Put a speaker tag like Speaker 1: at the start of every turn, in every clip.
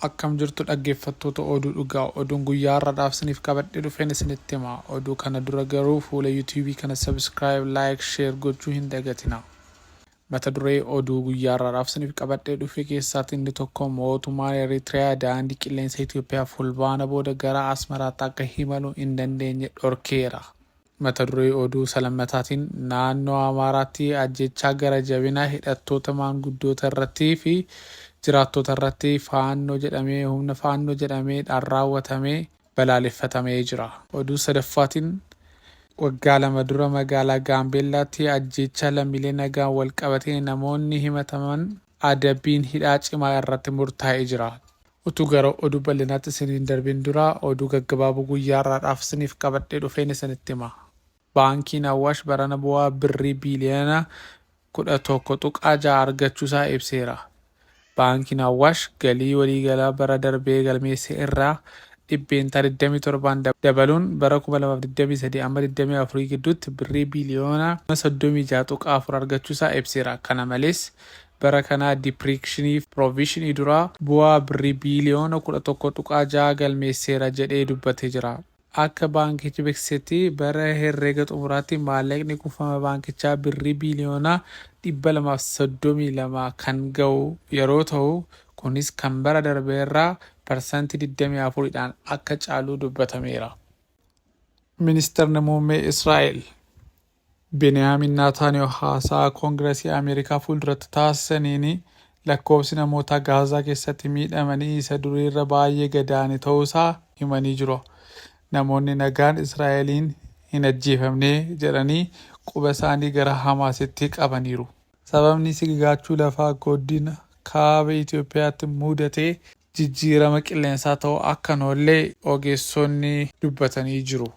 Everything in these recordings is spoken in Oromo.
Speaker 1: Akkam jirtu dhaggeeffattoota oduu dhugaa oduun guyyaa har'adhaaf isiniif qabadhee dhufeen isinitti hima oduu kana dura garuu fuula yuutuubii kana subscribe like share gochuu hin dagatina mata duree oduu guyyaa har'adhaaf isiniif qabadhee dhufe keessaatti inni tokko mootummaan Eritiriyaa daandii qilleensa Itoophiyaa fulbaana booda gara Asmaraatti akka himalu hin dandeenye dhorkeera. Mata duree oduu isa lammataatiin Naannoo Amaaraatti ajjeechaa gara jabina hidhattoota maanguddoota irratti fi jiraattoota irratti Faannoo jedhamee humna Faannoo jedhamee dhaan raawwatame balaaleffatamee jira. Oduu sadaffaatiin Waggaa lama dura magaalaa Gaambeellaatti ajjeechaa lammiilee nagaan wal qabatee namoonni himataman adabbiin hidhaa cimaa irratti murtaa'ee jira. Utuu gara oduu bal'inaatti isin hin darbin dura oduu gaggabaaboo guyyaa har'aadhaaf isiniif qabadhee dhufeen isinitti hima. Baankiin Awwaash barana bu'aa Birrii biiliyoona 11.6 argachuusaa ibseera. Baankiin Awwaash galii waliigalaa bara darbee galmeesse irraa dhibbeentaa 27'n dabaluun bara 2023 amma 24 gidduutti Birrii biiliyoona 36.4 argachuusaa ibseera. Kana malees, bara kanaa dipriikshiniif piroovishinii duraa bu'aa Birrii biiliyoona 11.6 galmeesseera jedhee dubbatee jira. Akka baankichi beeksisetti bara herreega xumuraatti maallaqni kuufama baankichaa Birrii biiliyoona 232 kan ga'u yeroo ta'u, kunis kan bara darbeerraa parsantii 24 dhaan akka caalu dubbatameera. Ministirri Muummee Israa'el. Beniyaamin Naataaniyoo haasaa Kongirasii Ameerikaa fuulduratti taasisaniin, lakkoofsi namootaa Gaazaa keessatti miidhamanii isa duriirra baayyee gad aane ta'uusaa himanii jiru. Namoonni nagaan Israa'eliin hin ajjeefamne jedhanii qubasaanii gara Hamaasitti qabaniiru. Sababni sigigaachuu lafaa godina Kaaba Itoophiyaatti mudate jijjiirama qilleensaa ta'uu akka hin oolle ogeessonni dubbatanii jiru.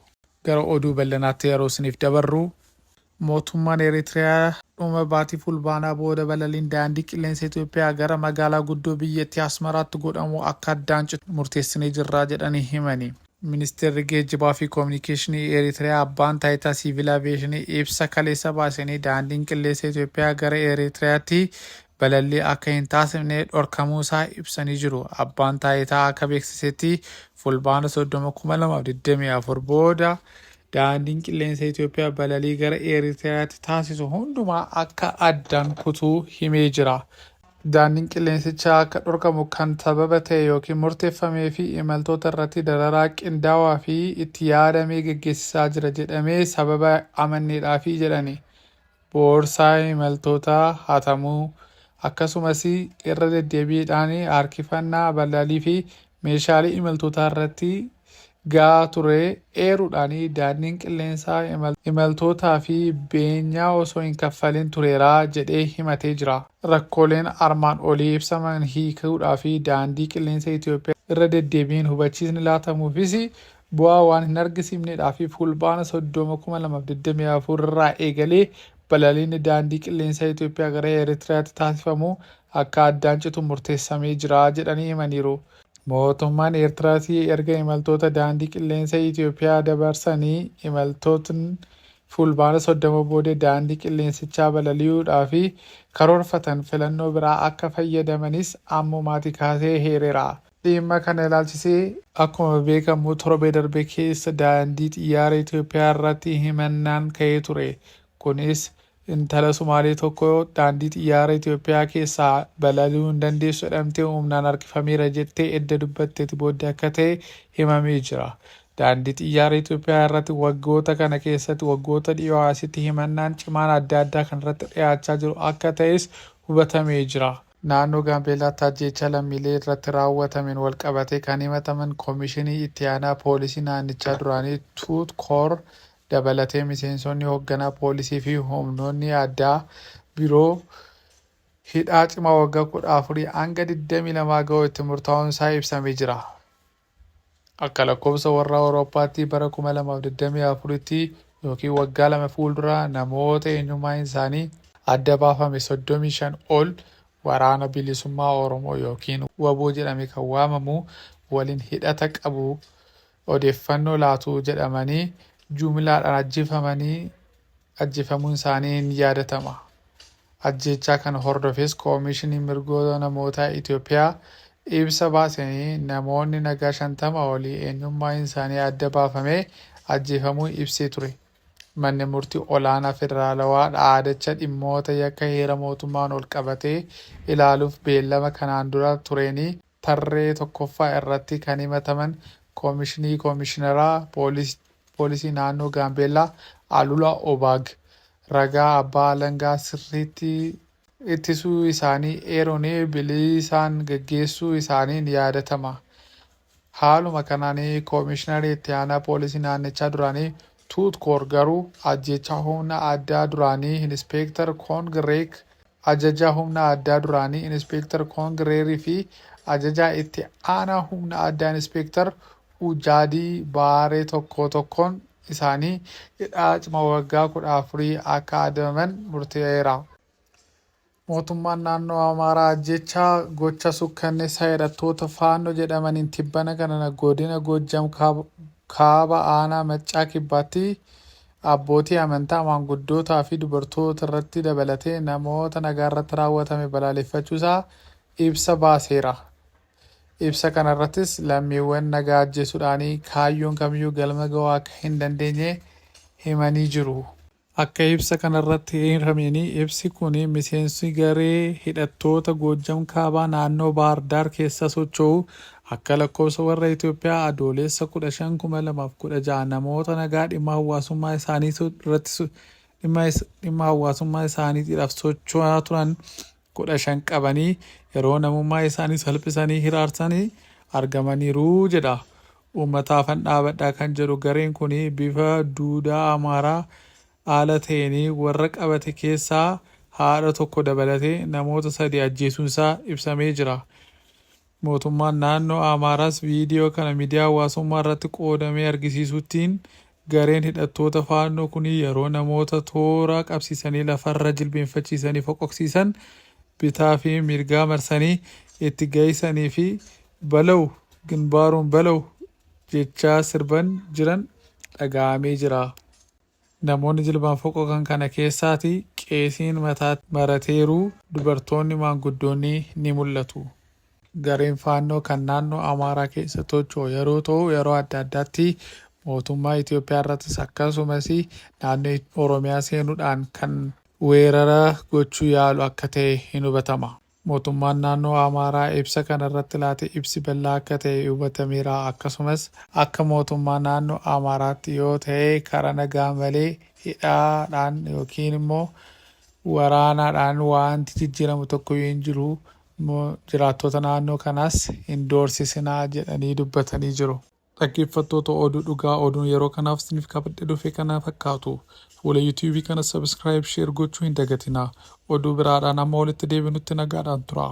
Speaker 1: Gara oduu ballanaatti yeroo isiniif dabarru, mootummaan Eritiriyaa dhuma baatii Fulbaanaa booda balaliin daandii qilleensa Itoophiyaa gara magaalaa guddoo biyyattii Asmaraatti godhamu akka addaan citu murteessinee jirra jedhanii himani. Ministeerri Geejjibaa fi Kominikeeshinii Eritiriyaa Abbaan Taayitaa Siivil Aviyeeshinii ibsa kaleessa baaseenii daandiin qilleensa Itoophiyaa gara Eritiriyaatti balallii akka hin taasifne dhorkamuu isaa ibsanii jiru. Abbaan Taayitaa akka beeksisetti Fulbaana 30,2024 booda Daandiin Qilleensa Itoophiyaa balalii gara Eeritiraatti taasisu hundumaa akka addaan kutuu himee jira. Daandiin qilleensichaa akka dhorkamu kan sababa ta'e yookiin murteeffamee fi imaltoota irratti dararaa qindaawaa fi itti yaadamee geggeessisaa jira jedhamee sababa amanneedhaafi jedhani. boorsaa imaltootaa hatamuu, akkasumas irra deddeebiidhaan harkifannaa ballalii fi meeshaalee imaltootaa irratti ga'aa ture eeruudhaan daandiin qilleensaa imaltootaa fi beenyaa osoo hin kaffalin tureera jedhee himatee jira. Rakkooleen armaan olii ibsaman hiikuudhaaf daandii qilleensa Itiyoophiyaa irra deddeebiin hubachiisni laatamuufis bu'aa waan hin argisiifneedhaa fi Fulbaana 30,2024 irraa eegalee balaliinni daandii qilleensaa Itoophiyaa gara Eritiriyaatti taasifamu akka addaan citu murteessamee jira jedhanii himaniiru. Mootummaan Eertiraas erga imaltoota daandii qilleensa Itoophiyaa dabarsanii imaltootn Fulbaana 30 booda daandii qilleensichaa balali'uudhaa fi karoorfatan filannoo biraa akka fayyadamanis ammumaatii kaasee heereera. Dhimma kana ilaalchisee. Akkuma beekamu torbee darbe keessa daandii xiyyaara Itoophiyaa irratti himannaan ka'ee ture. Kunis intala Sumaalee tokko daandii xiyyaara Itoophiyaa keessaa balali'uu hin dandeessu jedhamtee humnaan harkifameera jettee edda dubbatteti booddee akka ta'e himamee jira. Daandii xiyyaara Itoophiyaa irratti waggoota kana keessatti waggoota dhiyoo asitti himannaan cimaan adda addaa kan irratti dhiyaachaa jiru akka ta'es hubatamee jira. Naannoo Gaambeellaatti ajjeechaa lammiilee irratti raawwatameen walqabatee kan himataman Komishinii Itti Aanaa Poolisii naannichaa duraanii Tuut Koor dabalatee miseensonni hogganaa poolisii fi humnoonni addaa biroo hidhaa cimaa waggaa 14 hanga 22 ga'u itti murtaa'uun isaa ibsamee jira. Akka lakkoofsa warra Awurooppaatti bara 2024tti ykn waggaa lama fuuldura namoota eenyummaan isaanii adda baafame 35 ol Waraana Bilisummaa Oromoo ykn wbo jedhame kan waamamu waliin hidhata qabu odeeffannoo laatu jedhamanii jumlaadhaan ajjefamanii ajjefamuun isaanii ni yaadatama. Ajjeechaa kana hordofees Koomishiniin Mirgoota Namootaa Itoophiyaa ibsa baaseen namoonni nagaa 50 olii eenyummaan isaanii adda baafamee ajjeefamuu ibsee ture. Manni Murtii Olaanaa Federaalawaa dhaadacha dhimmoota yakka heera mootummaan ol qabatee ilaaluuf beellama kanaan dura tureen tarree 1ffaa irratti kan himataman Koomishinii Koomishinaraa Poolisii Naannoo Gaambeellaa Alula Obaag ragaa abbaa alangaa sirriitti ittisuu isaanii eeruun bilisaan gaggeessuu isaanii ni yaadatama. Haaluma kanaan Koomishinarri Itti Aanaa Poolisii Naannichaa duraanii Tuut Koor garuu ajjeechaa humna addaa duraanii Inispeektar Koong Reek Ajajaa Humna Addaa duraanii Inispeektar Koong Reerii fi Ajajaa Itti Aanaa Humna Addaa Inispeektar Ujaadii Baaree tokkoo tokkoon isaanii hidhaa cima waggaa 14 akka adabaman murtee'eera. Mootummaan Naannoo Amaaraa ajjeechaa gocha sukkanneessaa hidhattoota Faannoo jedhamaniin tibbana kana godina Goojjam Kaaba aanaa Maccaa Kibbaatti abbootii amantaa, maanguddootaa fi dubartoota irratti dabalatee namoota nagaa irratti raawwatame balaaleffachuu isaa ibsa baaseera. Ibsa kana irrattis lammiiwwan nagaa ajjeesuudhaanii kaayyoon kamiyyuu galma ga'uu akka hin dandeenye himanii jiru. Akka ibsa kana irratti eerameen ibsi kun miseensi garee hidhattoota Goojjam Kaabaa naannoo Baahar Daar keessaa socho'u Akka lakkoofsa warra Itoophiyaa Adooleessa 15,2016 namoota nagaa dhimma hawwaasummaa isaaniitu irratti so- dhimma is- dhimma hawwaasummaa isaaniitiidhaaf socho'aa turan 15 qabanii yeroo namummaa isaanii salphisanii hiraarsanii argamaniiru jedha. Uummataafan dhaabadhaa kan jedhu gareen kun bifa duudaa Amaaraa haala ta'een warra qabate keessaa haadha tokko dabalatee namoota sadii ajjeesuunsaa ibsamee jira. Mootummaan naannoo Amaaraas viidiyoo kana midiyaa hawaasummaa irratti qoodamee argisiisuttiin gareen hidhattoota Faannoo kuni yeroo namoota toora qabsiisanii lafarra jilbeenfachiisanii foqoqsiisan bitaa fi mirgaa marsanii itti gahisanii fi Balaw Ginbaaruun Balaw jechaa sirban jiran dhagahamee jira. Namoonni jilbaan foqoqan kana keessaati qeesiin mataatti marateeru, dubartoonni maanguddoonni ni mul'atu. Gareen Faannoo kan naannoo Amaaraa keessa tocho'u yeroo ta'u yeroo adda addaatti mootummaa Itoophiyaa irrattis akkasumas naannoo Oromiyaa seenuudhaan kan weerara gochuu yaalu akka ta'e hin hubatama. Mootummaan Naannoo Amaaraa ibsa kana irratti laate ibsi bal'aa akka ta'e hubatameera. Akkasumas akka mootummaa naannoo Amaaraatti yoo ta'e karaa nagaa malee hidhaadhaan yookiin immoo waraanaadhaan waanti jijjiiramu tokkoyyuu hin jiru. Mo- Jiraattoota naannoo kanaas hin doorsisinaa jedhanii dubbatanii jiru. Dhaggeeffattoota Oduu Dhugaa Oduun yeroo kanaaf isiniif qabadhe dhufe kana fakkaatu. Fuula YouTube kana subscribe, share gochuu hin dagatinaa. Oduu biraadhaan amma walitti deebinutti nagaadhaan turaa.